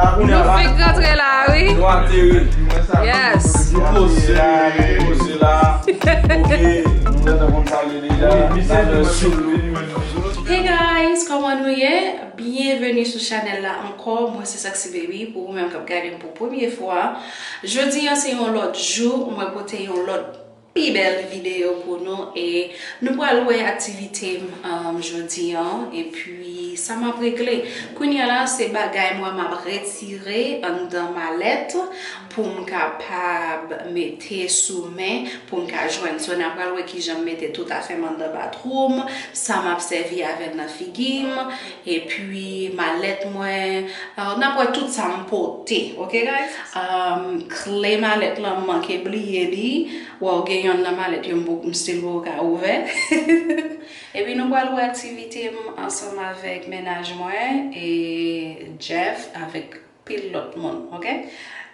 Nou fenk rantre la a wi. Nou ateri. Yes. Nou poze la. Nou poze la. Ok. Nou gentan konn sa vle di la. Misye sou nou. Hey guys, kòman nou ye? Byenveni sou chanèl la ankò. Mwen se Saksy Baby pou ou menm k ap gade m pou premye fwa. Jodi an se yon lòt jou. Mwen pote yon lòt. Pi bèl video pou nou e nou pral wè aktivite m jodi an epi sa map regle. Kounya la se bagay mwen map retire anndan malèt pou m kapab mete sou men pou m ka jwenn. So na pral wè kijan m mete tout afè m anndan batwou m, sa map sèvi avè l nan figi m. Epi malèt mwen, n ap wè tout sa m pote ok guys. Kle malèt lan m manke bliye li, waw gen yonn nan malèt yo m stil poko ka ouvè. Epi nou pral wè aktivite m ansanm avèk mennaj mwen e Jeff avèk pil lòt moun ok.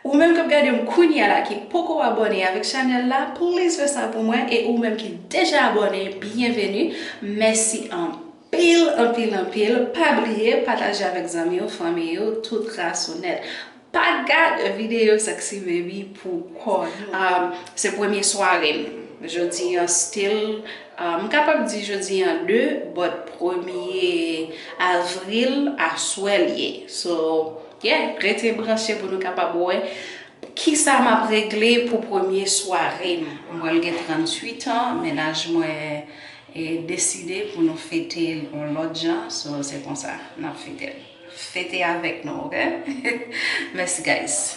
Ou menm kap gadem kounya la ki poko abòne avèk chanèl la please fè sa pou mwen e ou menm ki deja abòne byenveni mèsi anpil anpil anpil pa bliye pataje avèk zanmiw fanmiy ou tout ras ou nèt pa gad videyo sexy baby pou kò nou. Se premye swarem jodi an still M kapab di jodi an 2 bòt premye avril aswè l ye so yeah rete branche pou nou kapab wè kisa m ap regle pou premye sware m. M pral gen 38 an mennaj mwen deside pou nou fete l yon lòt jan so se konsa n ap fete l. Fete avèk nou ok mèsi guys.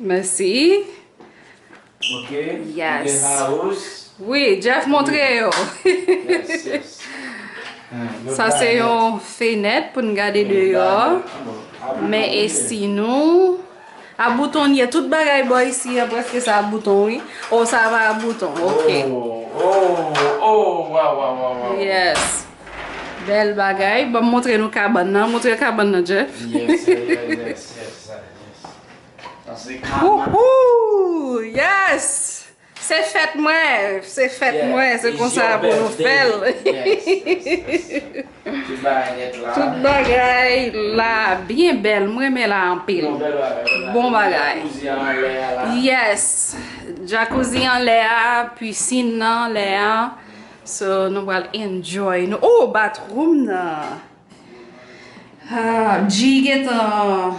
Mèsi Wi Jeff montre yo Sa se yon fenèt pou n gade deyò Mè esi nou A bouton ye Tout bagay bò isi yo prèske sa a bouton wi Ou sa a pa a bouton ok Ou ou ou Waw waw waw Yes Bel bagay banm montre nou kabann nan montre kabann nan Jeff. Yes sir yes sir sa se kabann. Wouhou yes se fèt mwen se fèt mwen se konsa pou nou fèl. Tout bagay la byen bel mwen renmen la anpil bon bagay. Yes jakouzi anlè a piscine nan anlè a. So nou pral enjoy nou ooh bathroom nan Haa Bgy gentan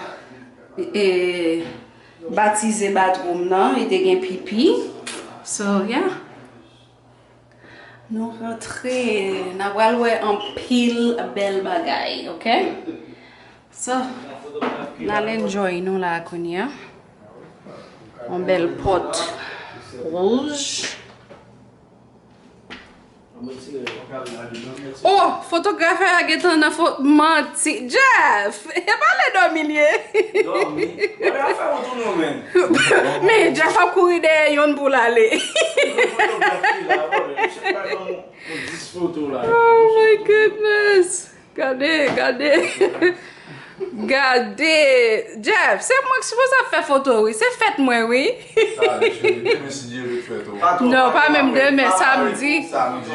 eee batize bathroom nan li te gen pipi So yeah Nou rantre nan pral wè anpil bèl bagay ok So Nal enjoy nou la kounya Yon bèl pot wouj. Oh fotografè a gentan nan fo manti Jeff e pa lè dòmi l ye Men Jeff ap kouri dèyè yonn pou l ale Oh my goodness. Gade gade Gade Jeff se mwen ki sipoze ap fè foto wi se fèt mwen wi Tande cheri demen si Dye vle fèt ou an Non pa menm demen samdi Samdi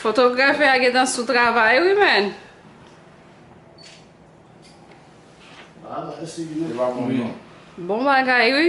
Fotografe a gentan sou travay wi menn. Bon bagay wi.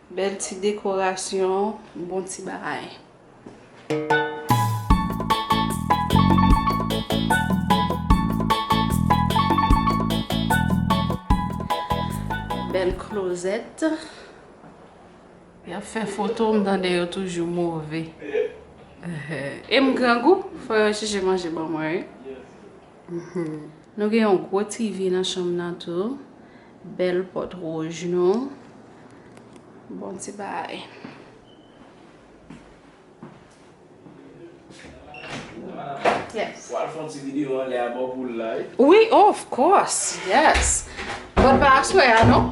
Bel ti dekorasyon, bon ti bagay. Bel klozet. Yap fe foto m tande yo toujou move. Em grangou, fo yo chèche manje ban mwen wi. Nou gen yon gwo TV nan chanm nan tou. Bèl pòt wouj nou. Bon ti bay. Yes. Wal fon ti video an lè a bò pou like. Wi, oh, of course. Yes. Mwen pa aswe a non.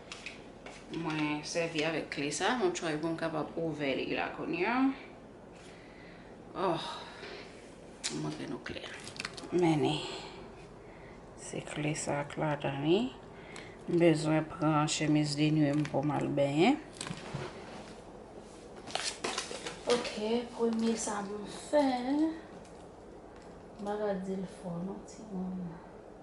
Mwen sèvi avèk kle sa, mwen tchwa pou m kapab ouvè li la kounye an. Oh, mwen montre nou kle a. Men ni, se kle sa ak la dan li. M bezwen pran chemiz de nwi m pou m al benyen. Ok, premye sa m fè, m pa ka di l fò non ti moun.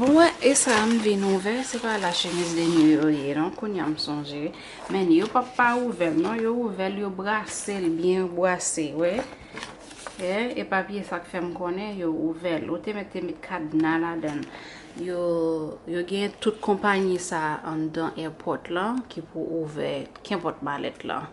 Bon mwen e sa m vin ouvè, se pa la chemise de nuit yo ye non, kounye a m sonje. Men yo pa pa ouvè l non, yo ouvè l, yo brase l byen, yo brase, wè. E pa piye sa k fè m konnen yo ouvè l. Yo te mèt te met kadna ladan l. Yo gen tout konpanyi sa anndan èpòt lan ki pou ouvè kenpòt malèt lan.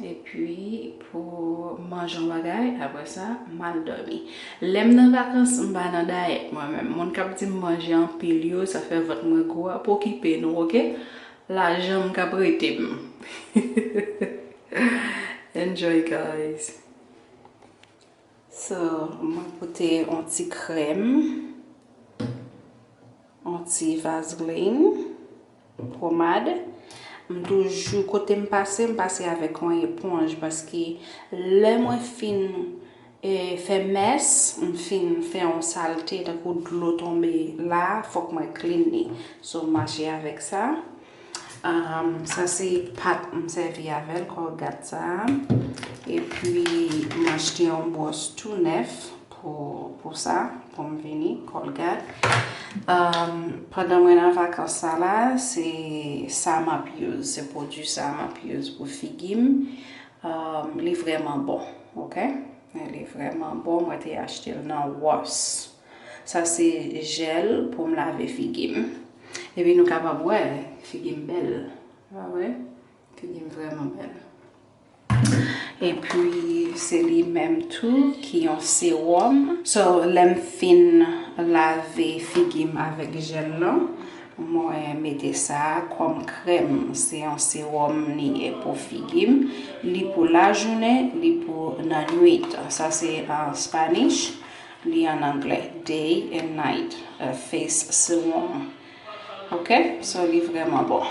Epi pou manje yon bagay, apre sa, m al dòmi. Lè m nan vakans, m pa nan dayèt mwen menm. Moun k ap di m manje anpil yo, sa fè vant mwen gwo a, pa okipe nou ok. Lajan m k ap rete m. Enjoy guys. So, mwen pote yon ti krèm, yon ti vaseline. Pomade, m toujou kote m pase m pase avèk yon eponj paske lè mwen fin fè mès, m fin fè yon salte tankou dlo tonbe la fòk mwen clean li. So m mache avèk sa. Sa se pat m sèvi avèl, colgate sa. Epi m achte yon bwòs tou nèf. pou sa pou m vini kolgad pandan mwen nan vakans sa la se sa m ap use se pwodui sa m ap use pou figi m li vreman bon ok li vreman bon mwen te achte l nan wòs sa se jèl pou m lave figi m epi nou kapab wè figi m bèl figi m vreman bèl Epi se li menm tou ki yon sewòm. So lè m fin lave figi m avèk jèl lan, mwen mete sa kòm krèm. Se yon sewòm li ye pou figi m. Li pou lajounen, li pou nan nwit. Sa se an Spanish, li an angle. Day and night face serum. Ok? So li vrèman bon.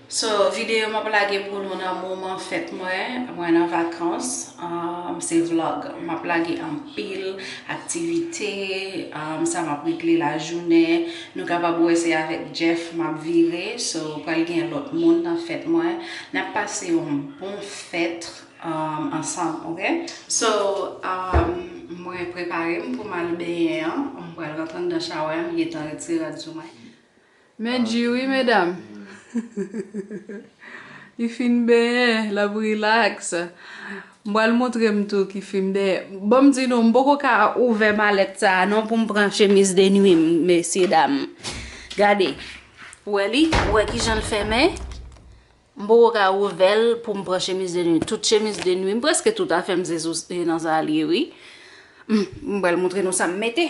So video map lage pou nou nan moman fèt mwen, mwen nan vakans, se vlog map lage anpil aktivite, sa map regle lajounen, nou kapab wè se avèk Jeff map vire, so pral gen lòt moun nan fèt mwen, nap pase yon bon fèt ansanm ok. So mwen preparem poum al benyen an, m pral rantre andan shawè an, m gentan retire rad sou mwen. Men du wi medam. Li fin benyen lap relax. M pral montre m tou ki fim dèyè. Bon m di nou m poko ka ouvè malèt sa a non pou m pran chemiz de nuit m mesye dam. Gade. Ou wè li? Ou wè kijan l fèmen? M poko ka ouvè l pou m pran chemiz de nuit. Tout chemiz de nuit m preske tout afè m se sou se nan sa l ye wi. M pral montre nou sa m mete.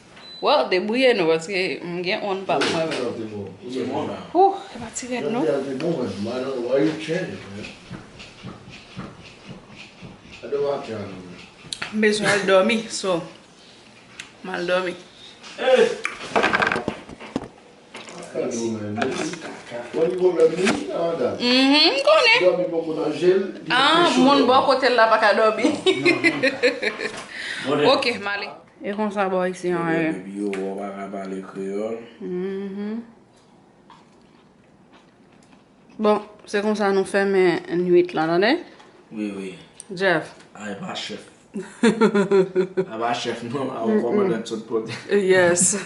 Well debouye nou paske m gen on pa mwen menm. Ooh e pa ti rèd non. M bezwen al domi so m al domi. M konnen. Ahh moun bò kote l la paka domi. Ok m ale. E konsa bò isi an e. Depi yo wè w pa ka pale kreyòl. Bon, se konsa nou fèmen nwit lan, tande? Wi, wi. Jeff. A e pa chèf. A pa chèf non, a on kòmandan sot pote. Yes.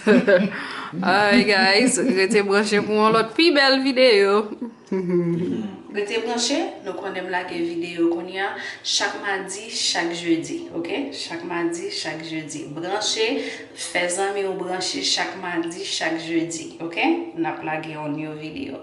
Alright guys, rete branche pou on lòt pi bèl videyo. Rete branche, nou konnen m lage videyo kounya chak madi, chak jedi ok chak madi, chak jedi branche fè zanmi w branche chak madi, chak jedi ok n ap lage yon new videyo.